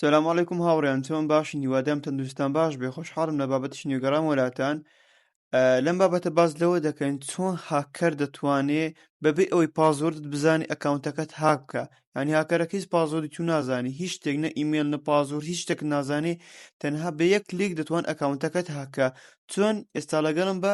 سلام علیکم هاوڕێیان چۆن باشن هیوادام تەندروستان باش بێ خۆشحاڵم لە بابەتش نوێگەڕام وەلاتان لەم بابەتە باز لەوە دەکەین چۆن هاکەر دەتوانێ بەبێ ئەوەی پازۆردت بزانانی ئەکاونتەکەت هاک بکە ینی هاکەرەکە هیچ پازۆری تو نازانی هیچ شتێک نە ئیممەل نە پازۆر هیچ شتێک نازانێ تەنها بە یەک کلیک دەتوان ئەکاونتەکەت هاکە چۆن ئێستا لەگەڵم بە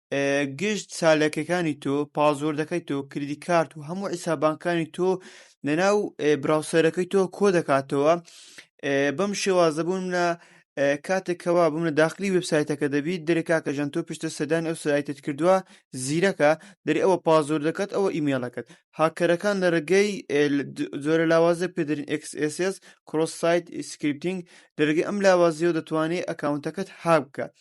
گشت چالاکیەکانی تۆ، پاسۆردەکەی تۆ، کریدی کارت و هەموو حیساب بانکیەکانی تۆ لەناو براوسەرەکەی تۆ کۆ دەکاتەوە بەم شێوازە بوون لە کاتێک کەوا بووم لە داخلی وبسایتەکە دەبیت دەرێ کاکە ژەن تۆ پشتە سەدان ئەو سایتت کردووە زیرەکە دەری ئەوە پازۆر دەکات ئەوە ئیمێڵەکەت هاکەرەکان لە ڕێگەی زۆرە لاوازە پێدرین XSS کرۆس سایت سکرپتنگ لە ڕێگەی ئەم لاوازیەوە دەتوانێت ئەکاونتەکەت هابکە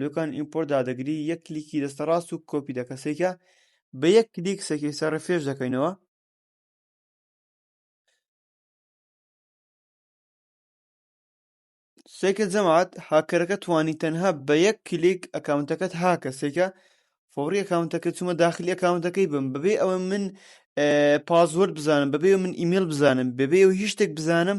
لوکان ئیمپۆرت دادەگری یەک کلیکی دەستە ڕاست و کۆپی دەکە سەیکە بە یەک کلیک سەکی سەر ڕفێش دەکەینەوە سێکە جەماعات هاکەرەکە توانی تەنها بە یەک کلیک ئەکاونتەکەت هاکە سێکە فۆڕی ئەکاونتەکە چوومە داخلی ئەکاونتەکەی بم بەبێ ئەوە من پازوەرد بزانم بەبێ من ئیمیل بزانم بەبێ و هیچ شتێک بزانم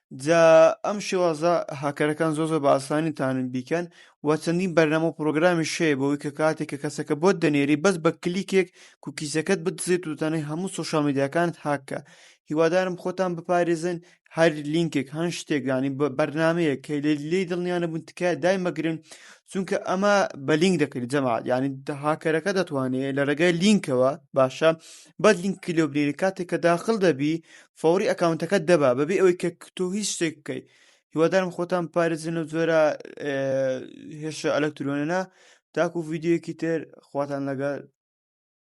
جا ئەم شێوازە هاکەرەکان زۆر زۆر بە ئاسانی تانن بیکەن و چەندین بەرنامە و پرۆگرامی شەیە بەوەی کە کاتێک کە کەسەکە بۆت دەنێری بەس بە کلیکێک کوکیزەکەت بدزێت و تەنەی هەموو سوۆشال میدیاکانت هاککە هیوادارم خۆتان بپارێزن هەر لینکێک هەن شتێک ینی بە بەرنمەیە کە لێ لێی دڵنیانە بوون تکایە دای مەگرن چونکە ئەمە بە لینک دەکرێت جەماعات ینی هاکەرەکە دەتوانێت لە ڕێگای لینکەوە باشە بەد لینکی لێ بنێری کاتێک کە داخل دەبی فەوری ئەکاونتەکەت دەبا بەبێ ئەوەی کە تۆ هیچ شتێک بکەیت هیوادارم خۆتان پارێزن و جۆرە هێشە ئەلەکترۆنەنا تاکو ڤیددیوەکی تر خواتان لەگەڵ